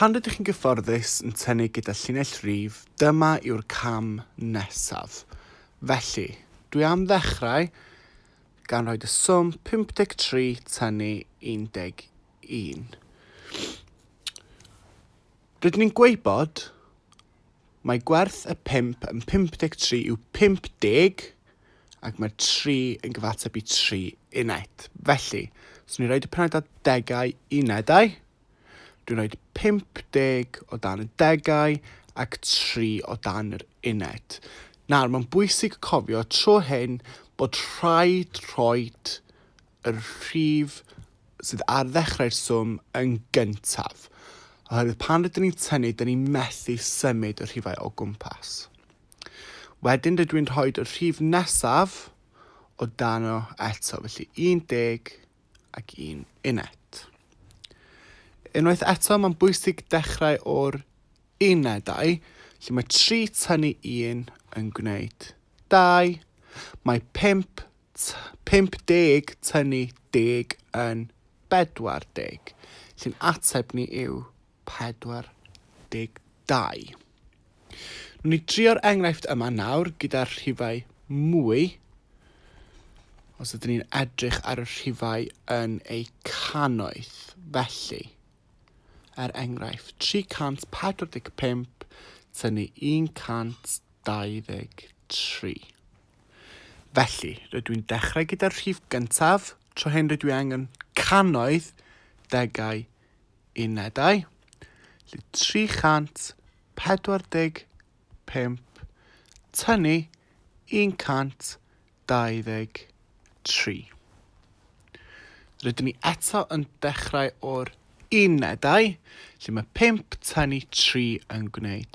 Pan rydych chi'n gyfforddus yn tynnu gyda llinell rif, dyma yw'r cam nesaf. Felly, dwi am ddechrau gan rhoi y swm 53 tynnu 11. Rydyn ni'n gwybod mae gwerth y pump yn 53 yw 50 ac mae'r 3 yn gyfateb i 3 uned. Felly, os ni'n rhoi y pennaeth at degau unedau, dwi'n rhoi 50 o dan y degau ac 3 o dan yr uned. Nawr, mae'n bwysig cofio tro hyn bod rhaid rhoi y rhif sydd ar ddechrau'r swm yn gyntaf, oherwydd pan rydyn ni'n tynnu, dyn ni'n methu symud y rhifau o gwmpas. Wedyn rydw i'n rhoi y rhif nesaf o dano eto, felly 10 ac un uned. Unwaith eto, mae'n bwysig dechrau o'r unedau, lle mae 3 tynnu 1 yn gwneud 2, mae 5 50 tynnu deg yn 40, sy'n ateb ni yw 42. Nwn ni drio'r enghraifft yma nawr gyda'r rhifau mwy. Os ydyn ni'n edrych ar y rhifau yn eu cannoedd, felly, er enghraifft, 345 tynnu 123. Felly, rydw i'n dechrau gyda'r rhif gyntaf, tro hyn rydw i angen cannoedd, degau, unedau. Felly 345 tynnu 123. Rydyn ni eto yn dechrau o'r unedau, lle mae 5 tynnu 3 yn gwneud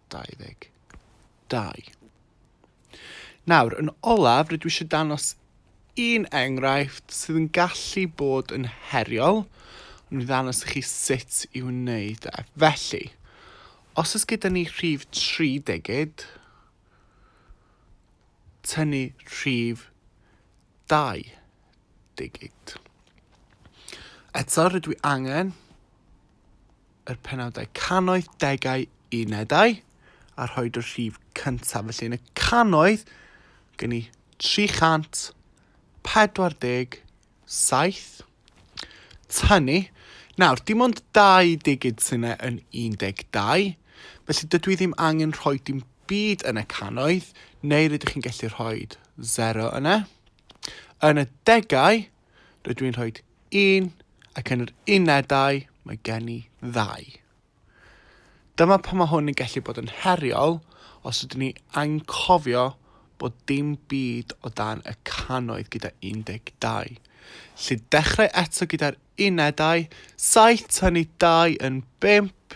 2022. Nawr, yn olaf, rydw i eisiau dangos un enghraifft sydd yn gallu bod yn heriol, ond i ddangos i chi sut i wneud e. Felly, os ys gyda ni rhif 3 degyd, tynnu rhif 2 degyd. Eto, rydw i angen yr penawdau canoedd, degau, unedau, a rhoed y rhif cyntaf. Felly yn y canoedd, gen i 347. Tynnu. Nawr, dim ond dau digid sy'n e yn 12, felly dydw i ddim angen rhoi dim byd yn y canoedd, neu rydych chi'n gallu rhoi 0 yna. Yn y degau, Rydw i'n rhoi un ac yn yr unedau mae gen i ddau. Dyma pan mae hwn yn gallu bod yn heriol os ydyn ni anghofio bod dim byd o dan y cannoedd gyda 12. Lle dechrau eto gyda'r unedau, saith tynnu dau yn bump,